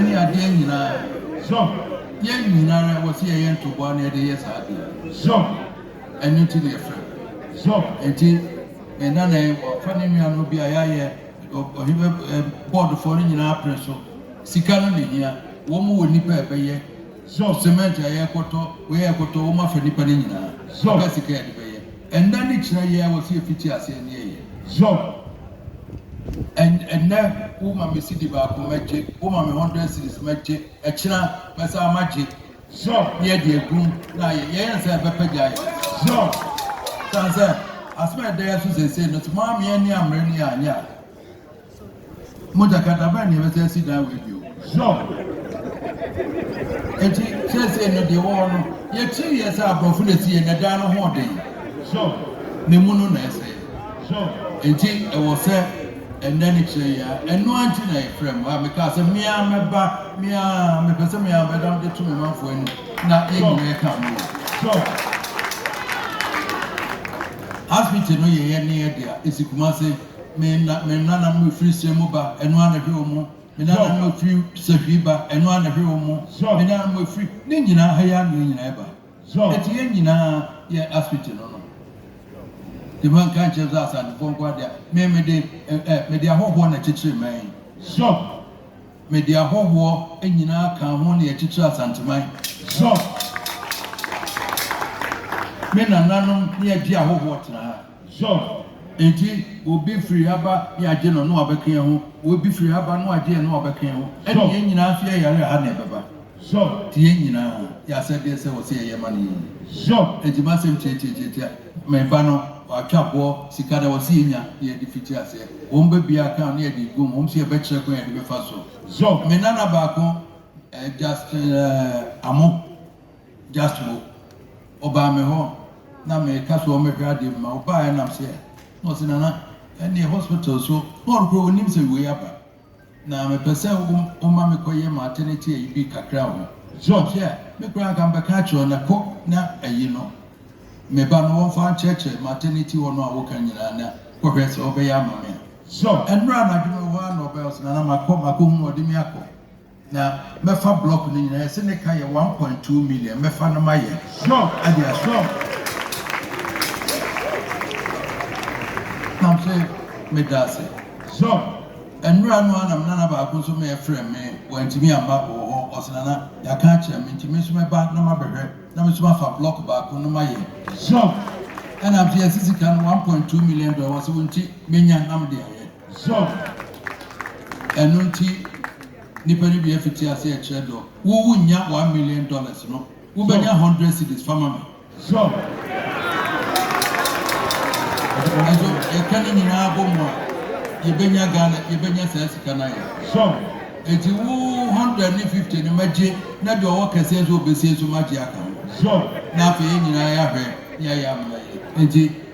ne adeɛ nyinaa. Zɔn. Yɛn nyinara wɔ sɛ yɛyɛ ntoboa na yɛde yɛ saa adeɛ. Zɔn. Ɛno nti na yɛfrɛ no. Zɔn. Nti me nana yi ɔfa ne nua no bi a yɛayɛ ɔhwɛ bɔɔdofoɔ no nyinaa pere so. Sika no na ɛhia. Wɔn wɔ nnipa a ɛbɛyɛ. Zɔn. Semɛnte a yɛrekɔtɔ wei a yɛrekɔtɔ wɔn afa nnipa no nyinaa. Zɔn. Sika sika a yɛde bɛyɛ. Ɛnnɛ ne kyerɛ yɛ a wɔsi efiti ase ɛne ɛyɛ. Job, Ɛnnɛ wo ma me sidi baako mɛgye, wo ma me hundred cedis mɛgye, ɛkyena mɛsan magye. Job, Neɛ deɛ egum na ayɛ, yɛyɛ no sɛ ɛbɛpɛ gyae. Job, San sɛ asem a ɛda yɛ so seesei no, so moameɛ ne ammere ne yɛ anyɛ a. Mogya kata bɛn na yɛbɛsɛ asi dan wei bio? Sure. Enti seesei no deɛ wɔwɔ no, yɛkyiri yɛ sɛ aborɔfo na ɛsi yɛ na dan no ho den. Sure. Ne mu no na ɛsɛ. Sure. Enti ɛwɔ sɛ ɛnɛ ne kyerɛ yɛ a, ɛno ara nti na yɛfrɛ mo a mekaa sɛ mea mɛba, mea mepɛ sɛ mea bɛda mo de to me manfoɔ ani na yɛn nyinaa ɛka mo wɔ. Sure. Hospital no yɛyɛ ne yɛ de a, ɛsi Kumase. Me na, me nananom a firi Sira mu ba, ɛno ara na ɛhwɛ wɔn. Me nananom a firi Sahwi ba, ɛno ara na ɛhwɛ wɔn. Me nananom a firi, ne nyinaa, ha yi ara na yɛn nyinaa ba. Enti yɛn nyinaa yɛ Asfiti no no. Nti manka ankyerɛ sɛ Asantefoɔ nko ara dea, me, mede, ɛ, ɛ, mede ahɔhoɔ na ɛkyekyere man yi. Mede ahɔhoɔ nyinaa ka ho na yɛkyekyere Asanteman. Me nananom ne yɛgye ahɔhoɔ tena ha. Sɔ, Enti obi firi ha ba ne agye no na wabɛka yɛn ho, obi firi ha ba na wagye yɛn na wabɛka yɛn ho, ɛnna yɛn nyinaa nso yɛyare a, ha na yɛbɛba. Sɔ, Enti yɛn nyinaa yɛ asɛdeɛ sɛ wɔse yɛyɛ ma no yie. Sɔ, Enti m'asɛm tiatiatiatia, me ba no, wɔatwa boɔ, sika na wɔse yɛnya na yɛde fiti aseɛ, wɔn ba biara ka ho na yɛde gu mu, wɔn se yɛbɛkyerɛ kwan a yɛde bɛfa so. Sɔ, Me nana baako, Justin Amoh, Just wo. Ɔbaa me hɔ na meka sɛ ɔmmɛhwɛ adeɛ bi ma ɔbaaɛ nam sɛ na ɔse Nana ɛnneɛ hospital so Paul koraa ɔnnim sɛ wei aba na mepɛ sɛ woma me kɔyɛ maternity ayi bi kakra wɔ So ɔhwɛ me koraa nka mebɛka akyerɛ na kɔ na ayi no me ba no wɔmfa nkyerɛkyerɛ maternity hɔ no a woka nyinaa na kɔhwɛ sɛ ɔbɛyɛ ama me a So ɛnora anadwo mewɔ hɔ a na ɔbɛɛ ɔse Nana makɔ makɔhunu ɔde me akɔ. Na mɛfa blɔk no nyinaa, yɛse ne ka yɛ one point two million, mɛfa no mayɛ ɛde ahyɛ mu. Na mese meda ase. Nnora no ara na me nana baako nso meɛ frɛɛ me, wantumi amma, ɔwɔ hɔ, ɔse Nana, yɛaka akyerɛ me nti me nso mɛba na mabɛhwɛ na me nso mafa blɔk baako no mayɛ. Ɛna mese yɛse sika no one point two million dollars, ɔse wo nti menya na mede ayɛ. Sɔ, Ɛno nti nnipa no bi afiti ase ɛkyerɛ dɔ. Wo wo nnya one million dollars no, wo bɛnya hundred cedis fa ma me. Sɔ, Ɛso yɛka ne nyinaa bɔ mu a yɛ bɛnya Ghana yɛ bɛnya saa sika no ayɛ. Sɔ, Ɛnti wo hundred ne fifty no mɛ gye na deɛ ɔwɔ kɛseɛ nso ɔbɛsie nso ma gye aka ho. Sɔ, Na afei yɛ nyinaa yɛ ahwɛ ne ayɛ amena yɛ nti.